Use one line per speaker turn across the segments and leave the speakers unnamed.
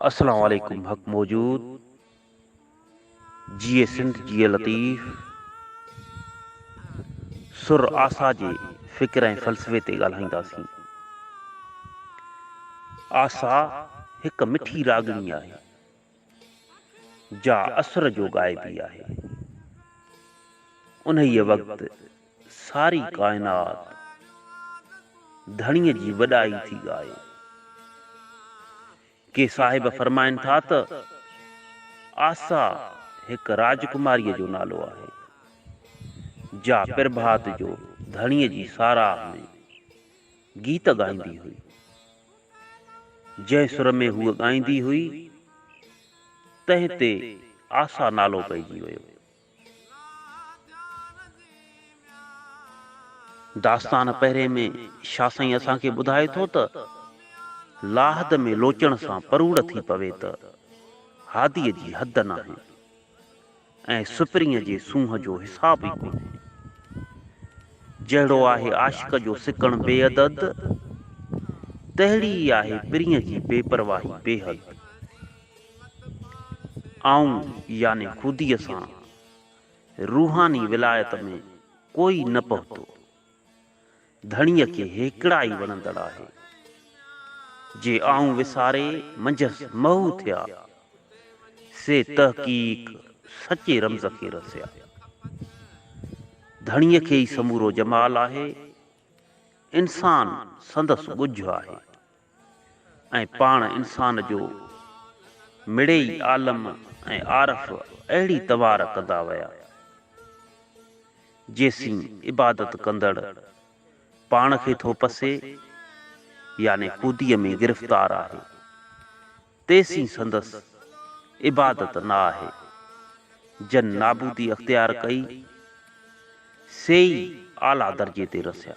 اسلام عليڪم حق موجود جيئي سنڌ جيئي لطيف سر آسا جي فڪر ۽ فلسفي تي ڳالهائينداسين آسا هڪ مٺي راڳڻي آهي جا اسر جو غائبي آهي. انهيء وقت ساري ڪائنات ڌڻيء جي وڏائي ٿي ڳائي. ڪي صاحب فرمائن ٿا ته آسا هڪ راجڪماريء جو نالو آهي، جا پرڀات جو ڌڻيء جي ساراهه ۾ گيت ڳائيندي هئي. جنهن سر ۾ هوء ڳائيندي هئي، تنهن تي آسا نالو پئجي ويو. داستان پهرين ۾ شاهه سائين اسان کي ٻڌائي ٿو ته، لاحد ۾ لوچڻ سان پروڙ ٿي پوي ته، هاديء جي حد ناهي. ۽ سپرينء جي سونهن جو حساب ئي ڪونهي. جهڙو آهي عاشق جو سڪڻ بي عدد، تهڙي ئي آهي پرينء جي بي پرواهي بي حد. آئون يعني خوديء سان روحاني ولايت ۾ ڪوئي نه پهتو. ڌڻيء کي هيڪڙا ئي وڻندڙ آهي. جي آئون وساري منجهس محو ٿيا، سي تحقيق سچي رمز کي رسيا. ڌڻيء کي ئي سمورو جمال آهي، انسان سندس ڳجهه آهي. ۽ پاڻ انسان جو مڙئي عالم ۽ عارف اهڙي توار ڪندا ويا، جيسين عبادت ڪندڙ پاڻ کي ٿو پسي، يعني خوديء ۾ گرفتار آهي، تيسين سندس عبادت نه آهي، جن نابودي اختيار ڪئي، سي ئي اعليٰ درجي تي رسيا.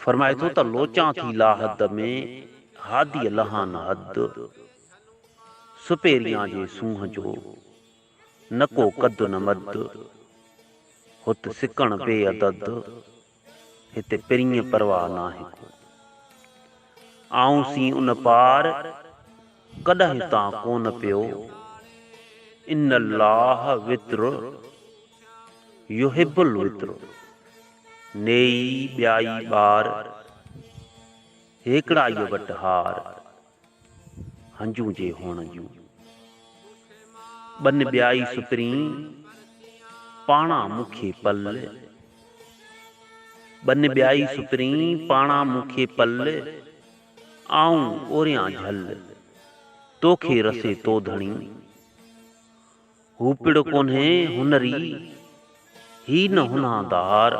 فرمائي ٿو ته لوچان ٿي لاحد ۾، هاديء لهان حد، سپهريان جي سونهن جو، نه ڪو قد نه مد، هت سڪڻ بي عدد، هت پرينء پرواهه ناهي ڪو. آئون سين ان پار، ڪڏهن تان ڪونه پيو، ان الله وتر يحب الوتر. نيئي ٻيائي ٻار، هيڪڙائيء وٽ هار، هنجون جي هئڻ جون. ٻن ٻيائي سپرين، پاڻا مون کي پل. ٻن ٻيائي سپرين، پاڻا مون کي پل، آئون اوريان جهل، توکي رسي تو ڌڻي. هو پڙ ڪونهي هنري، هي نه هنادار.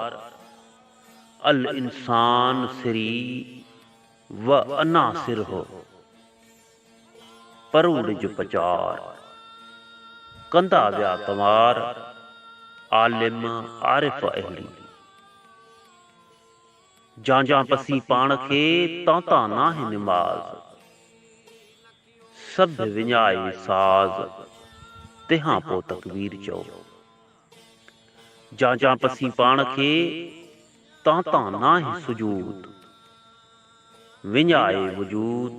الانسان سري و انا سره، پروڙ جو پچار. ڪندا ويا ڪنوار، عالم عارف اهڙي. جانجان پسي پاڻ کي، تانتان ناهي نماز. سڌ وڃائي ساز، تنهان پوء تڪبير چئو. جان جان پسين پاڻ کي، تان تان ناهه سجود. وڃائي وجود،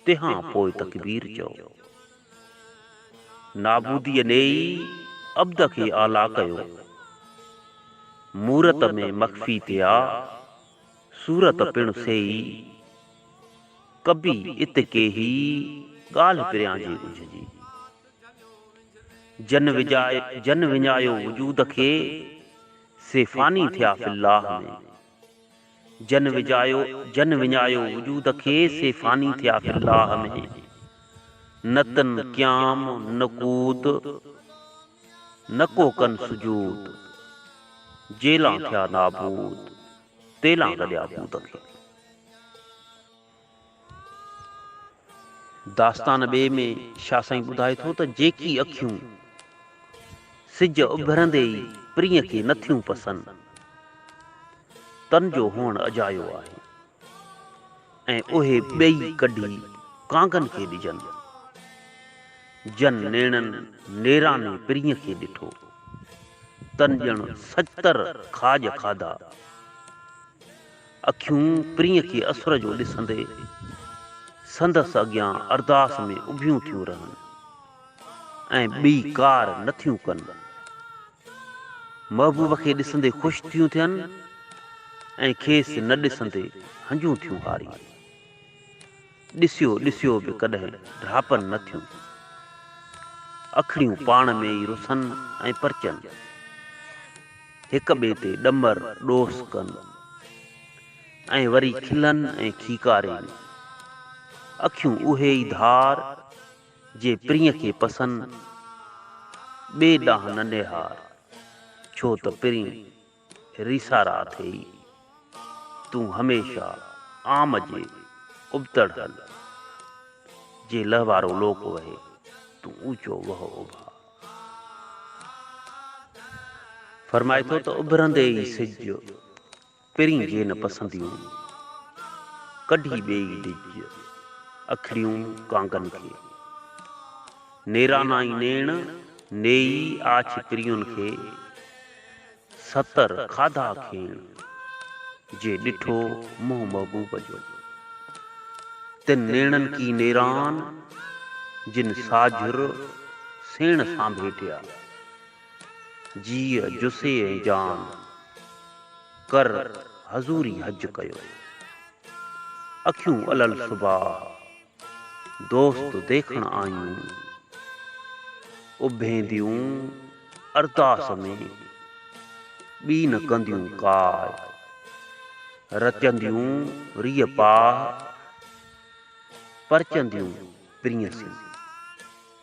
تنهان پوء تڪبير چئو. نابوديء نيئي، عبد کي اعليٰ ڪيو. مورت ۾ مخفي ٿئا، صورت پڻ سيئي. ڪبي ات ڪيهي ڳالهه پريان جي اجهه جي. جن جن وڃايو وجود کي، سي فاني ٿيا في الله ۾. جن وجايو جن وڃايو وجود کي، سي فاني ٿيا في الله ۾. نه تن قيام نه قوت، نه ڪو ڪن سجود، جيلان ٿيا نابود. تيلان گڏيا پوت کي. داستان ٻئي ۾ شاهه سائين ٻڌائي ٿو ته جيڪي اکيون سج اڀرندي ئي پرينء کي نٿيون پسن، تن جو هئڻ اجايو آهي. ۽ اهي ٻئي ڪڍي ڪانگن کي ڏجن. جن نيڻن نيراني پرينء کي ڏٺو، تن ڄڻ سچتر کاڄ کاڌا. اکيون پرينء کي اسر جو ڏسندي، سندس اڳيان ارداس ۾ اڀيون ٿيون رهن ۽ ٻي ڪار نٿيون ڪن. محبوب کي ڏسندي خوش ٿيون ٿين ۽ کيس نه ڏسندي هنجون ٿيون هارين. ڏسيو ڏسيو به ڪڏهن ڊاهپن نه ٿيون. اکڙيون پاڻ ۾ ئي رسن ۽ پرچن. هڪ ٻئي تي ڏمر ڏوس ڪن ۽ وري کلن ۽ کيڪارين. اکيون اهي ئي ڌار. جي پرينء کي پسند ٻي ڏانهن نه نهار، ڇو ته پرين ريسارا اٿئي. تون هميشه عام جي ابتڙ هل، جي لهوارو لوڪ وهي، تون اوچو وهه اڀا. فرمائي ٿو ته اڀرندي ئي سج. پرين جي نه پسنديون، ڪڍي ٻئي ڊڄ اکڙيون ڪانگن کي. نيرانائي نيڻ نيئي آڇ پرين کي، ستر کاڌا کيڻ جي ڏٺو منهن محبوب جو. تن نيڻن ڪي نيران، جن ساجھر سيڻ سانڀيٽيا. جيء جسي ۽ جان ڪر حضوري حج ڪيو. اکيون الل صباح دوست ديکڻ آيون. اڀينديون ارداس ۾، ٻي نه ڪنديون ڪاء. رچنديون ريء پاء، پرچنديون پرينء سين.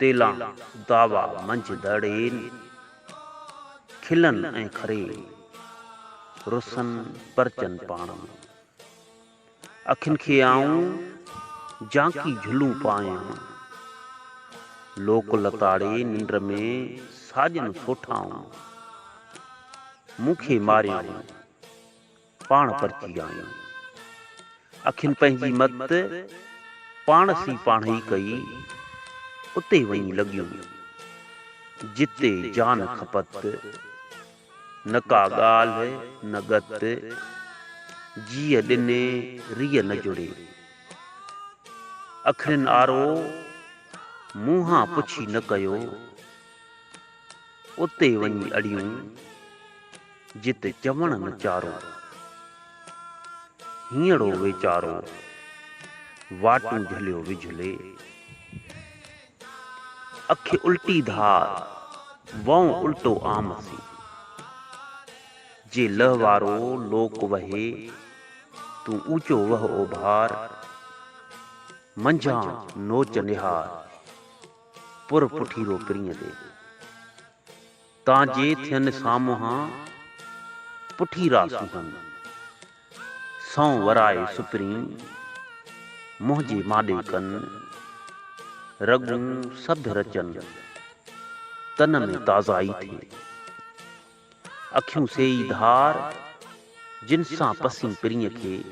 تيلان دعويٰ منجهه دڙين، کلن ۽ کرين، رسن پرچن پاڻ ۾. اکين کي آئون جانڪي جهلون پايان، لوڪ لتاڙي ننڊ ۾ ساڄن سوٺائون. مون کي ماريان پاڻ پرچي آيون. اکين پنهنجي مت پاڻس ئي پاڻهئي ڪئي، اتي وڃي لڳيون، جتي جان کپت، نه ڪا ڳالهه نه ڳت، جيء ڏني ريء نه جڙي. اکرين آرو منهان پڇي نه ڪيو. اتي وڃي اڙيون، جتي چوڻ نه چارو. هينئڙو ويچارو، واٽون جهليو وجهلي. اک الٽي ڌار، وئون الٽو عام سي. جي لئه وارو لوڪ وهي، تون اوچو وهه اوڀار. منجهان نوچ نهار. پر پٺيرو پرينء ڏي. تان جي ٿين سامونهان پٺيرا سونهن. سنئون ورائي سپرين منهنجي ماڏي ڪن. رڳون سڌ رچن تن ۾ تازائي ٿئي. اکيون سي ئي ڌار، جن سان پسين پرينء کي،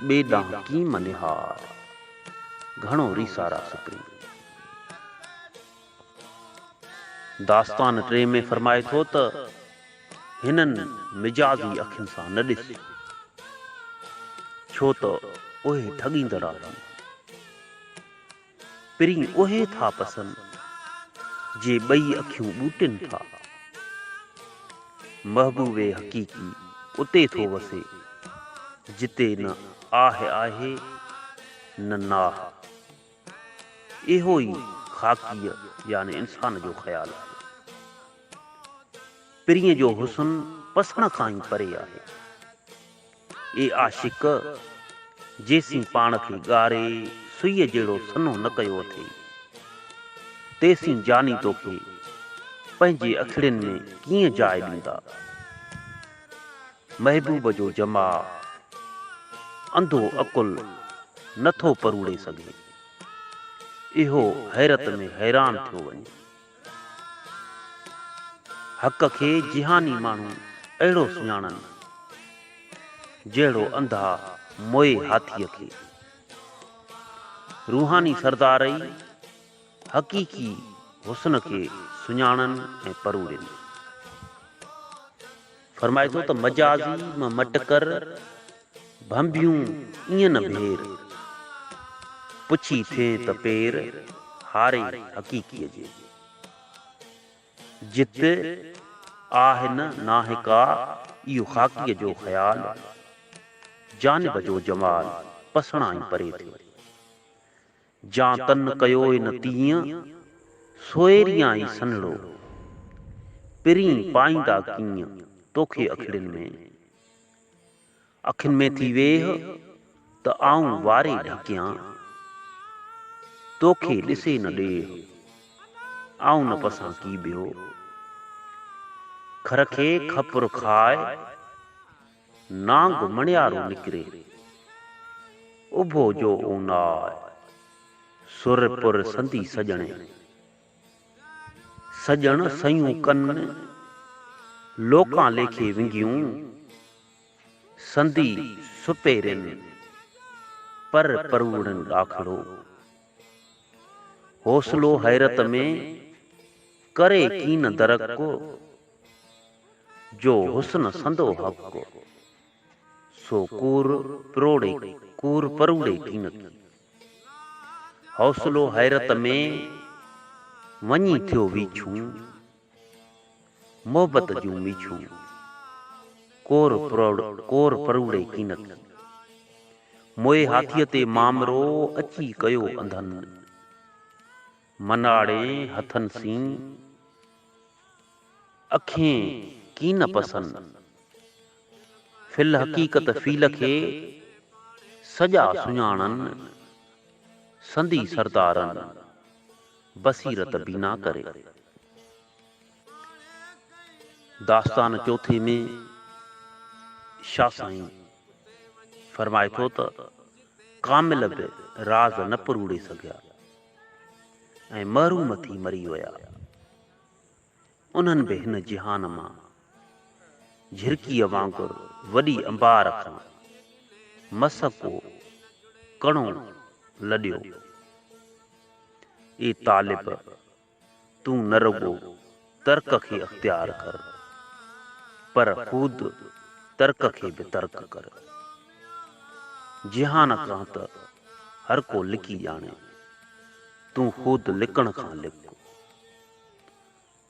ٻئي ڏانهن ڪيم نهار، گهڻو ريسا راس پرين. داستان ٽئين ۾ فرمائي ٿو ته، هنن مجازي اکين سان نه ڏس، ڇو ته اهي ٺڳيندڙ آهن. پرين اهي ٿا پسن، جي ٻئي اکيون ٻوٽين ٿا. محبوب حقيقي اتي ٿو وسي، جتي نه آهه آهي، نه ناهه. اهو ئي خاڪيء يعني انسان جو خيال آهي. پرين جو حسن پسڻ کان ئي پري آهي. اي عاشق! جيسين پاڻ کي ڳاري سئيء جهڙو سنهو نه ڪيو اٿئي، تيسين جاني توکي پنهنجي اکڙين ۾ ڪيئن جاء ڏيندا؟ محبوب جو جماع انڌو عقل نه ٿو پروڙي سگهي. اهو حيرت ۾ حيران ٿيو وڃي. حق کي جهاني ماڻهو اهڙو سڃاڻن، جهڙو انڌا موئي هاٿيء کي. روحاني سردار ئي حقيقي حسن کي سڃاڻن ۽ پروڙين. فرمائي ٿو ته مجازي مان مٽ ڪر، ڀنڀيون ايئن نه ڀير، پڇي ٿئين ته پير، هاري حقيقيء جي. جت آهه نه ناهه ڪا، اهو خاڪيء جو خيال، جانب جو جمال، پسڻائين پري ٿيو. جان تن ڪيوء نه تيئن، سوئريان ئي سنهڙو. پرين پائيندا ڪيئن، توکي اکڙين ۾. اکين ۾ ٿي ويهه، ته آئون واري ڍڪيان. توکي ڏسي نه ڏيهه، آئون نه پسان ڪي ٻيو. کر کي کپر کاء! نانگ مڻيارو نڪري، اڀو جو اوناء سر پر سندي سڄڻي. سڄڻ سيون ڪن، لوڪان ليکي ونگيون، سندي سپيرين، پر پروڙين ڏاکڙو. حوصلو حيرت ۾، ڪري ڪين درڪ. جو حسن سندو حق ڪو، سو ڪور پروڙي ڪور پروڙي ڪين ڪي. حوصلو حيرت ۾ وڃي ٿيو ويڇون، محبت جون ميڇون ڪور ڪور پروڙي ڪين ڪي. موئي هاٿيء تي مامرو اچي ڪيو انڌن. مناڙي هٿن سين، اکين ڪين پسن. في الحقيقت فيل کي، سڄا سڃاڻن. سندي سردارن، بصيرت بينا ڪري. داستان چوٿين ۾ شاهه سائين فرمائي ٿو ته، ڪامل به راز نه پروڙي سگهيا. ۽ محروم ٿي مري ويا. انهن به هن جهان مان جهرڪيء وانگر وڏي انبار کان مس ڪو ڪڻو لڏيو. اي طالب! تون نه رڳو ترڪ کي اختيار ڪر پر خود ترڪ کي به ترڪ ڪر. جهان کان ته هر ڪو لڪي ڄاڻي، تون خود لڪڻ کان لڪ.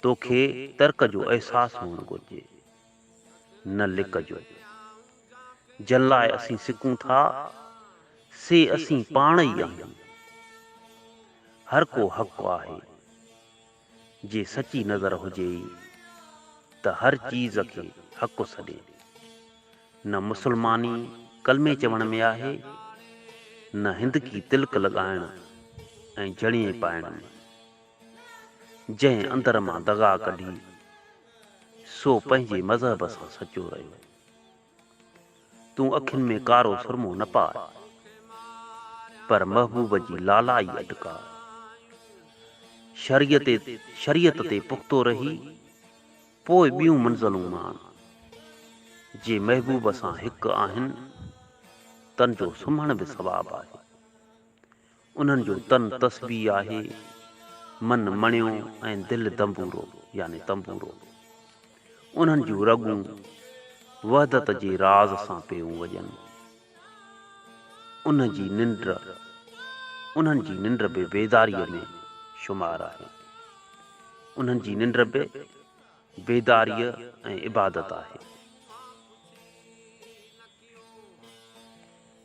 توکي ترڪ جو احساس هئڻ گهرجي. نه لڪجو، جن لاء اسين سڪون ٿا، سي اسين پاڻ ئي آهيون. هر ڪو حق آهي. جي سچي نظر هجي ئي ته هر چيز کي حق سڏي. نه مسلماني ڪلمي چوڻ ۾ آهي، نه هندڪي تلڪ لڳائڻ ۽ جڻيئي پائڻ ۾. جنهن اندر مان دغا ڪڍي سو پنهنجي مذهب سان سچو رهيو. تون اکين ۾ ڪارو سرمو نه پاء، پر محبوب جي لالائي اٽڪاء. شريعت شريعت تي پختو رهي، پوء ٻيون منزلون ماڻ. جي محبوب سان هڪ آهن، تن جو سمهڻ به ثواب آهي. انهن جو تن تسبيح آهي، من مڻيو ۽ دل دنبورو يعني تنبورو. انهن جون رڳون وحدت جي راز سان پيون وڄن. انهن جي ننڊ انهن جي ننڊ به بيداريء ۾ شمار آهي. انهن جي ننڊ به بيداريء ۽ عبادت آهي.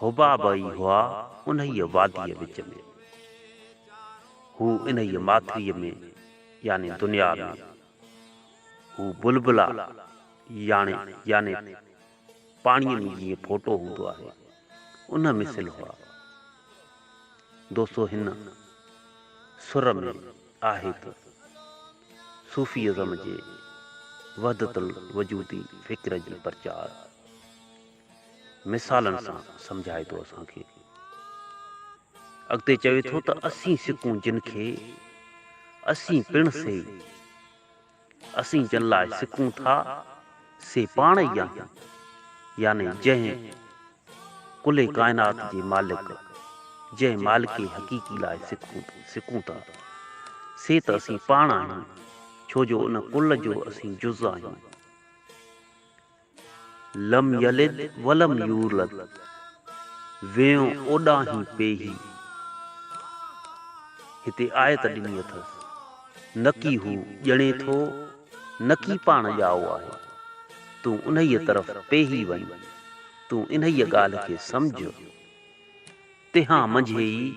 حباب ئي هئا انهيء واديء وچ ۾. هو انهيء ماٿريء ۾، يعني دنيا ۾. هو بلبلا، يعني، يعني پاڻيء ۾ جيئن ڦوٽو هوندو آهي، ان مثل هئا. دوستو هن سر ۾ آهي ته صوفي ازم جي وحدت الوجودي فڪر جي پرچار، مثالن سان سمجهائي ٿو اسان کي. اڳتي چوي ٿو ته اسين سڪون جن کي، اسين پڻ سي. اسين جن لاء سڪون ٿا، سي پاڻ ئي آهن، يعني جنهن ڪل ڪائنات جي مالڪ، جنهن مالڪ حقيقي لاء سڪون ٿا، سي ته اسين پاڻ آهيون، ڇو جو ان ڪل جو اسين جز آهيون. لم يلد ولم يولد ويئون اوڏانهين پيهي هتي آيت ڏني اٿس نڪي هو ڄڻي ٿو نڪي پاڻ ڄائو آهي تون انهيء طرف پيهي وڃ تون انهيء ڳالهه کي سمجهه. تنهان منجهي ئي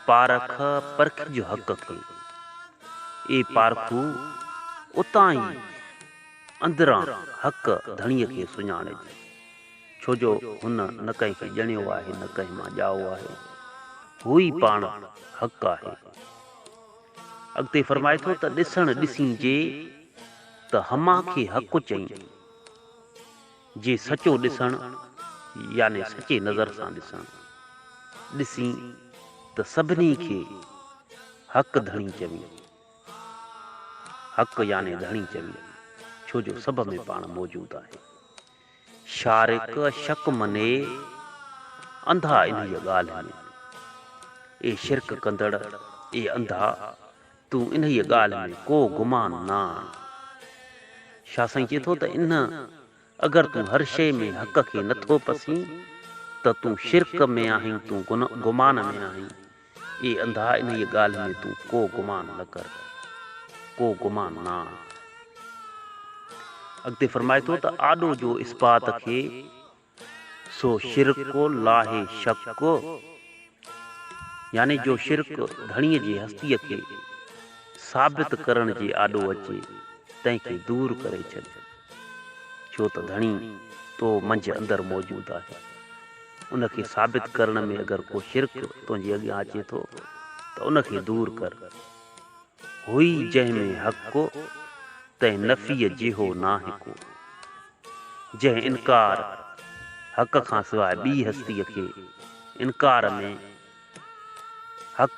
پارک پرکي جو حق کي. اي پارکو! اتان ئي اندران حق ڌڻيء کي سڃاڻج، ڇو جو هن نه ڪنهن کي ڄڻيو آهي نه ڪنهن مان ڄائو آهي. هو ئي پاڻ حق آهي. اڳتي فرمائي ٿو ته ڏسڻ ڏسين جي ته هماکي حق چئين. جي سچو ڏسڻ يعني سچي نظر سان ڏسڻ ڏسين ته سڀني کي حق ڌڻي چوين حق يعني ڌڻي چوين ڇو جو سڀ ۾ پاڻ موجود آهي شارق شڪ مني انڌا انهيء ڳالهه ۾ اي شرڪ ڪندڙ اي انڌا تون انهيء ڳالهه ۾ ڪو گمان نه آڻ. شاهه سائين چئي ٿو ته انهن اگر تون هر شيء ۾ حق کي نه ٿو پسين ته تون شرڪ ۾ آهين تون گمان ۾ آهين. اي انڌا انهيء ڳالهه ۾ تون ڪو گمان نه ڪر. ڪو گمان نه آڻ. اڳتي فرمائي ٿو ته آڏو جو اثبات کي. سو شرڪ لاهي شڪ، يعني جو شرڪ ڌڻيء جي هستيء کي ثابت ڪرڻ جي آڏو اچي، تنهن کي دور ڪري ڇڏ، ڇو ته ڌڻي تو منجهه اندر موجود آهي، ان کي ثابت ڪرڻ ۾ اگر ڪو شرڪ تنهنجي اڳيان اچي ٿو ته ان کي دور ڪر. هئي جنهن ۾ حق ڪو، تنهن نفيء جيهو ناهي ڪو. جنهن انڪار حق کان سواء ٻي هستيء کي انڪار ۾ حق،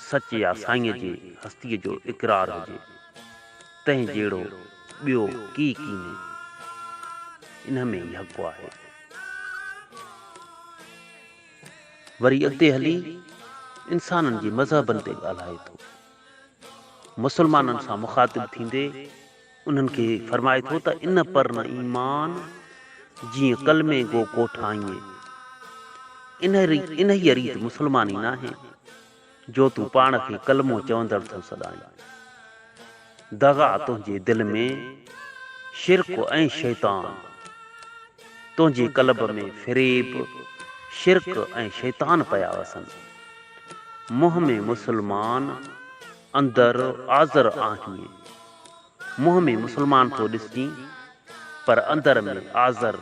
سچ يا سائينء جي هستيء جو اقرار هجي، تنهن جهڙو ٻيو ڪي ڪينهي. انهيء ۾ ئي حق آهي. وري اڳتي هلي انسانن جي مذهبن تي ڳالهائي ٿو. مسلمانن سان مخاطب ٿيندي انهن کي فرمائي ٿو ته ان پر نه ايمان جيئن ڪلمي گو ڪوٺائين. انهيء ريت مسلماني ناهي. جو تون پاڻ کي ڪلمو چوندڙ ٿو سڏائين. دغا تنهنجي دل ۾، شرڪ ۽ شيطان تنهنجي قلب ۾ فريب، شرڪ ۽ شيطان پيا وسن. منهن ۾ مسلمان، اندر آزر آهين. منهن ۾ مسلمان ٿو ڏسجين پر اندر ۾ آذر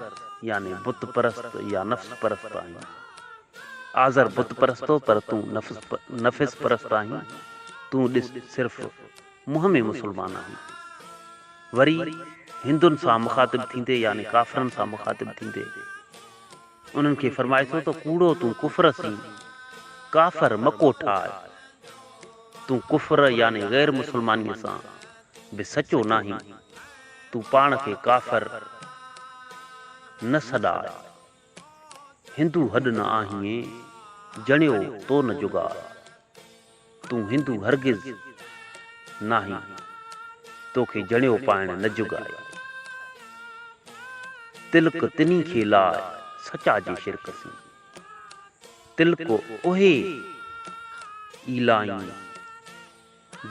يعني بت پرست يا نفس پرست آهين. آذر بت پرستو پر تون نفس پرست آهين. تون ڏس صرف منهن ۾ مسلمان آهين. وري هندن سان مخاطب ٿيندي يعني ڪافرن سان مخاطب ٿيندي. انهن کي فرمائسون ته ڪوڙو تون ڪفر سين، ڪافر، مڪو ٺاهه، تون ڪفر يعني غير مسلمانيء سان به سچو ناهين، تون پاڻ کي ڪافر نه سڏاء، هندو هڏ نه آهين، جڻيو تو نه جگاڙ. تون هندو هرگز ناهين، توکي جڻيو پائڻ نه جڳ آهي. تلڪ تنهين کي لاء سچا جي شرڪ سين. تلڪ اهي ئي لائين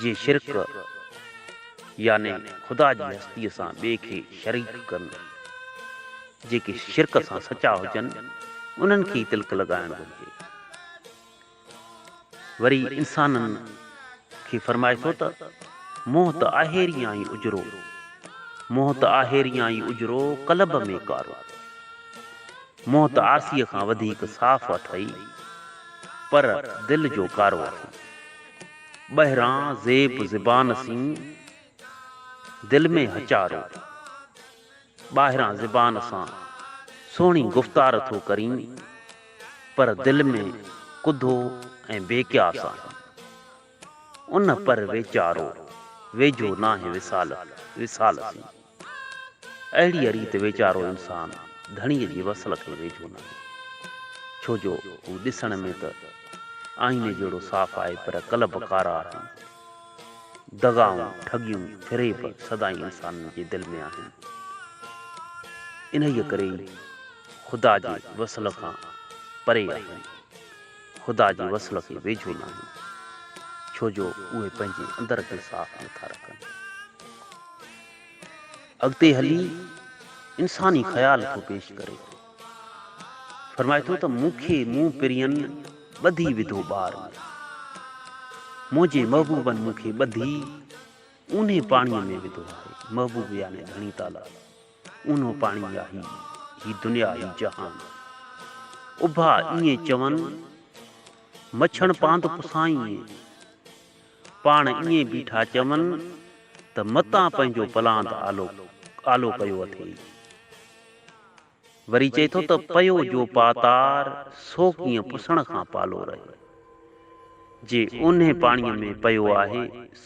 جي شرڪ يعني خدا جي هستيء سان ٻئي کي شريڪ ڪن. جيڪي شرڪ سان سچا هجن، انهن کي ئي تلڪ لڳائڻ گهرجي. وري انسانن کي فرمائي ٿو ته، منهن ته آهي ريانئي اجرو، منهن ته آهي ريانئي اجرو قلب ۾ ڪارو. منهن ته آرسيء کان وڌيڪ صاف اٿئي، پر دل جو ڪارو اٿئي. ٻاهران زيب زبان سين، دل ۾ هچارو. ٻاهران زبان سان سهڻي گفتار ٿو ڪرين پر دل ۾ ڪڌو ۽ بي قياس آهين. ان پر ويچارو ويجهو ناهي وصال وصال سين. اهڙيء ريت ويچارو انسان ڌڻيء جي وصل کي ويجهو ناهي. ڇو جو هو ڏسڻ ۾ ته آئيني جهڙو صاف آهي پر قلب ڪارا آهن. دغائون، ٺڳيون، فريب سدائين انسانن جي دل ۾ آهن. انهيء ڪري ئي خدا جي وصل کان پري آهن، خدا جي وصل کي ويجهو ناهن، ڇو جو اهي پنهنجي اندر کي صاف نٿا رکن. اڳتي هلي انساني خيال ٿو پيش ڪري. فرمائي ٿو ته مون کي مون پرين ٻڌي وڌو ٻار ۾، منهنجي محبوبن مون کي ٻڌي اونهي پاڻيء ۾ وڌو آهي، محبوب يعني ڌڻي تعاليٰ اونهو پاڻي آهي، هي دنيا هي جهان اڀا ائين چون مڇڻ پاند پسائين. پاڻ ائين بيٺا چون ته متان پنهنجو پلاند آلو آلو ڪيو اٿئي. وري چئي ٿو ته پيو جو پاتار سو ڪيئن پسڻ کان پالو رهي. جي اونهي پاڻيء ۾ پيو آهي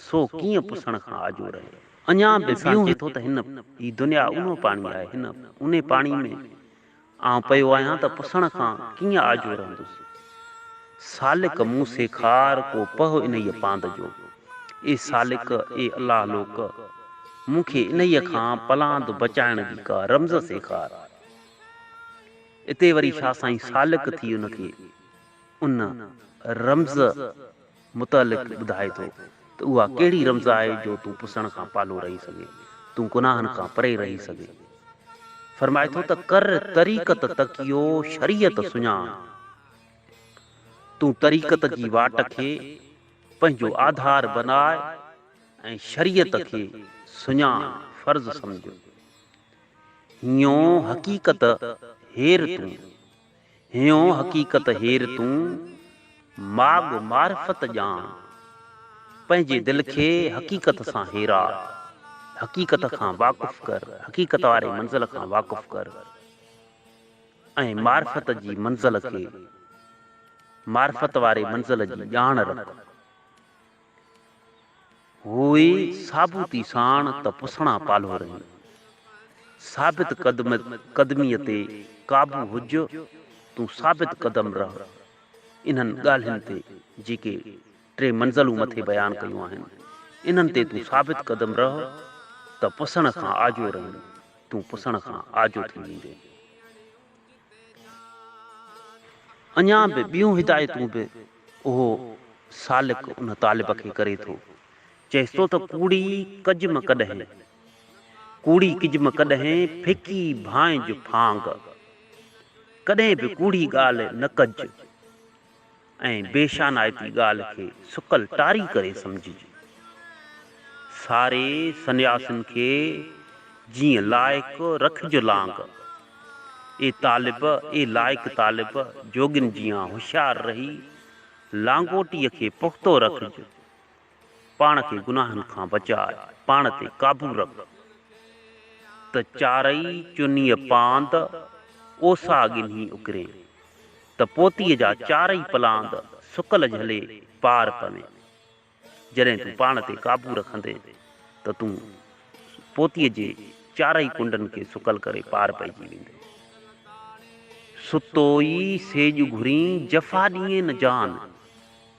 سو ڪيئن پسڻ کان آجو رهي. اڃا به انسان چئي ٿو ته هن هي دنيا اونهو پاڻي آهي، هن اونهي پاڻي ۾ آئون پيو آهيان ته پسڻ کان ڪيئن آجو رهندس. سالڪ مون سيکار ڪو پهه انهيء پاند جو. اي سالڪ، اي الله لوڪ، مون کي انهيء کان پلاند بچائڻ جي ڪا رمز سيکار. اتي وري شاهه سائين سالڪ ٿي ان کي ان رمز. متعلق ٻڌائي ٿو ته اها ڪهڙي رمز آهي جو تون پسڻ کان پالو رهي سگهين، تون گناهن کان پري رهي سگهين. فرمائي ٿو ته ڪر طريقت تقيو شريعت سڃاڻ. تون طريقت جي واٽ کي پنهنجو آڌار بناء ۽ شريعت کي سڃاڻ، فرض سمجهه. هينئون حقيقت هير تون. هيون حقيقت هير تون ماڳ معرفت ڄاڻ. پنهنجي دل کي حقيقت سان هيرا. حقيقت کان واقف ڪر، حقيقت واري منزل کان واقف ڪر ۽ معرفت جي منزل کي، معرفت واري منزل جي ڄاڻ رک. هوء ثابوتي ساڻ ته پسڻا پالهو رهي. ثابت قدميء تي قابو هج، تون ثابت قدم رهه. انهن ڳالهين تي جيڪي ٽي منزلون مٿي بيان ڪيون آهن، انهن تي تون ثابت قدم رهه ته پسڻ کان آجو رهين، تون پسڻ کان آجو ٿي ويندين. اڃا به ٻيون هدايتون به اهو سالڪ ان طالب کي ڪري ٿو. چئيس ٿو ته ڪوڙي ڪجم ڪڏهين، ڪوڙي ڪجم ڪڏهين ڦڪي ڀانئج ڦانگ، ڪڏهين به ڪوڙي ڳالهه نه ڪج. ۽ بي شانائتي ڳالهه کي سڪل ٽاري ڪري سمجهي، ساري سنياسين کي جيئن لائق رکج لانگ، اي طالب، اي لائق طالب، جوڳين جيان هوشيار رهي لانگوٽيء کي پختو رکج، پاڻ کي گناهن کان بچاء، پاڻ تي قابو رک ته چارئي چنيء پاند، اوسا ڳنهي اڪرين ته پوتيء جا چارئي پلاند سڪل جهلي پار پوين. جڏهن تون پاڻ تي قابو رکندين ته تون پوتيء جي چارئي ڪنڊن کي سڪل ڪري پار پئجي ويندين. ستو ئي سيڄ گهرين، جفا ڏينهين نه جان.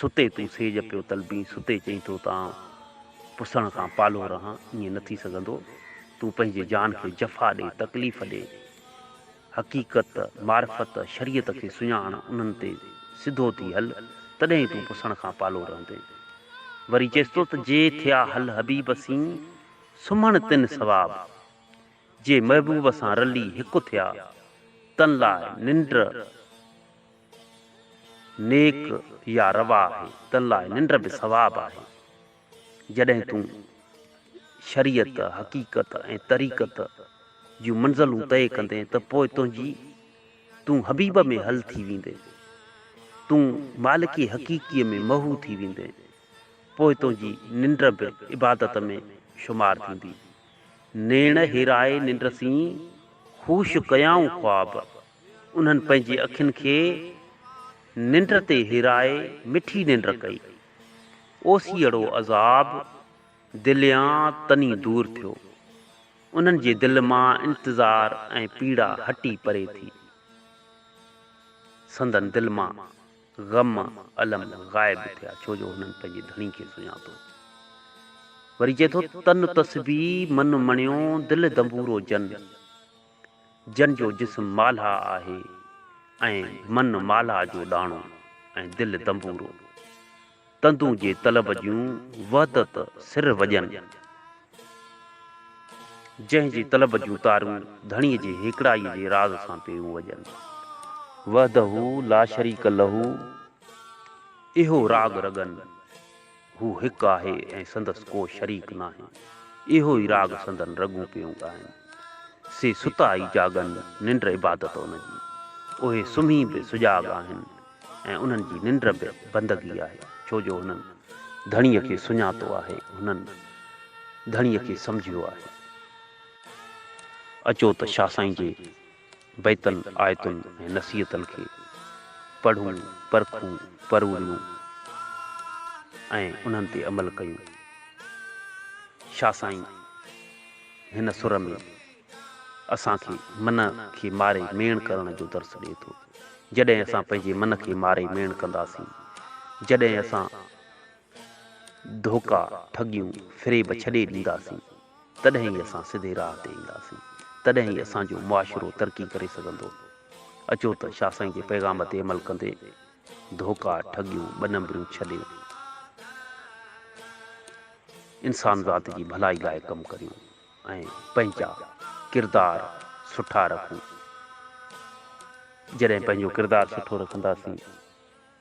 ستي تون سيج پيو طلبين ستي چئين ٿو ته آئون پسڻ کان پالو رهان ائين نه ٿي سگهندو تون پنهنجي جان کي جفا ڏي تڪليف ڏي حقيقت معرفت شريعت کي سڃاڻ انهن تي سڌو ٿي هل تڏهن ئي تون پسڻ کان پالو رهندين وري چيس ٿو ته جي ٿيا هل حبيب سين سمهڻ تن ثواب جي محبوب سان رلي هڪ ٿيا تن لاء ننڊ نيڪ يا روا آهي، تن لاء ننڊ به ثواب آهي. جڏهن تون شريعت، حقيقت ۽ طريقت جون منزلون طئي ڪندين ته پوء تنهنجي تون حبيب ۾ حل ٿي ويندين. تون مالڪي حقيقيء ۾ محو ٿي ويندين. پوء تنهنجي ننڊ به عبادت ۾ شمار ٿيندي. نيڻ هيرائي ننڊ سين، هوش ڪيائون خواب. انهن پنهنجي اکين کي ننڊ تي هيرائي مٺي ننڊ ڪئي. اوسيئڙو عذاب دليان تني دور ٿيو. انهن جي دل مان انتظار ۽ پيڙا هٽي پري ٿي. سندن دل مان غم الم غائب ٿيا ڇو جو هنن پنهنجي ڌڻي کي سڃاتو. وري چئي ٿو، تن تسبيح من مڻيو دل دنبورو جن. جن جو جسم مالها آهي ۽ من مالها جو ڏاڻو ۽ دل دنبورو. تندون جي طلب جون وحدت سر وڄن. جنهن جي طلب جون تارون ڌڻيء جي هيڪڙائيء جي راز سان پيون وڄن. وحده لاشريڪ لهو اهو راڳ رڳن. هو هڪ آهي ۽ سندس ڪو شريڪ ناهي. اهو ئي راڳ سندن رڳون پيون ڳائن. سي ستا ئي جاڳن، ننڊ عبادت ان جي. اهي سمهي به سجاڳ آهن ۽ انهن جي ننڊ به بندگي آهي، ڇو جو هنن ڌڻيء کي سڃاتو آهي، هنن ڌڻيء کي سمجهيو آهي. اچو ته شاهه سائين جي بيتن، آيتن ۽ نصيحتن کي پڙهون، پرکون، پروڙيون ۽ انهن تي عمل ڪيون. شاهه سائين هن سر ۾ اسان کي من کي ماري ميڻ ڪرڻ جو درس ڏئي ٿو. جڏهن اسان پنهنجي من کي ماري ميڻ ڪنداسين، جڏهن اسان. ڌوڪا، ٺڳيون، فريب ڇڏي ڏينداسين، تڏهن ئي اسان سڌي راهه تي اينداسين، تڏهن ئي اسان جو معاشرو ترقي ڪري سگهندو. اچو ته شاهه سائين جي پيغام تي عمل ڪندي ڌوڪا، ٺڳيون، ٻه نمبريون ڇڏي انسان ذات جي ڀلائي لاء ڪم ڪريون ۽ پنهنجا ڪردار سٺا رکون. جڏهن پنهنجو ڪردار سٺو رکنداسين.